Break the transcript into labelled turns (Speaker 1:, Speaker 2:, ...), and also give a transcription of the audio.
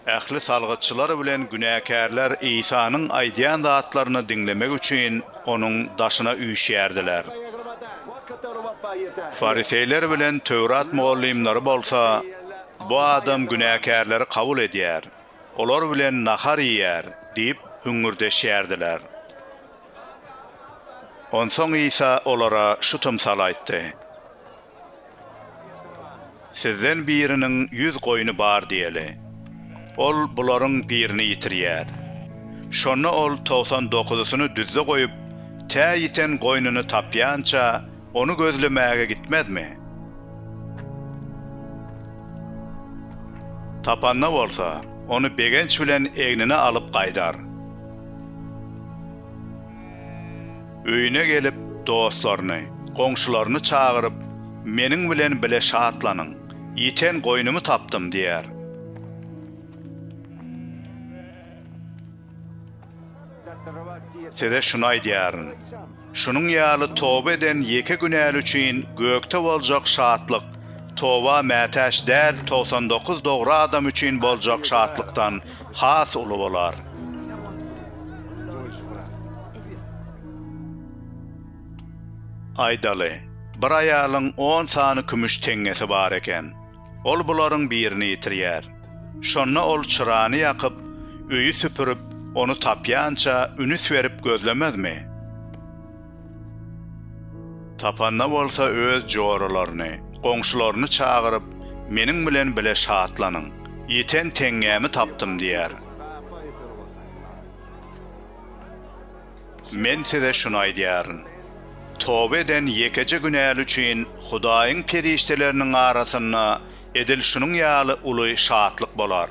Speaker 1: Ähli salgytçylar bilen günäkärler Isanyň aýdýan zatlaryny diňlemek üçin onuň daşyna üýşýärdiler. Fariseýler bilen Töwrat mugallymlary bolsa, Bu adam günäkärleri kabul edýär, olar bilen nahar iýýär diýip hüňňürdeşýärdiler. Onsoň Isa olara şu tymsaly aýtdy, Sizden biriniň ýüz goýny bar diýeli. Ol bularyň birini ýitirýär. Şonda ol togsan dokuzysyny düzde goýup, tä ýiten goýnuny tapýança, Ony gözlemäge gitmezmi? Tapanda bolsa, ony begenç bilen egnine alyp gaýdar. Öýüne gelip, dostlaryny, goňşularyny çagyryp, Meniň bilen bile şatlanyň, ýiten goýnumy tapdym! diýer. Size şuny aýdýaryn, şunuň ýaly toba eden ýeke günäli üçin gökde boljak şatlyk toba mätäç däl togsan dokuz dogry adam üçin boljak şatlykdan has uly bolar. Aýdaly, bir aýalyň on sany kümüş teňňesi bar eken. Ol bularyň birini ýitirýär. Şonda ol çyrany ýakyp, öýi süpürip, ony tapýança ünüs berip gözlemezmi? Tapanda bolsa öz joralaryny, goňşularyny çagyryp, Meniň bilen bile şatlanyň! Ýiten teňňämi tapdym! diýer. Men size şuny aýdýaryn, toba eden ýekeje günäli üçin Hudaýyň perişdeleriniň arasynda edil şunuň ýaly uly şatlyk bolar.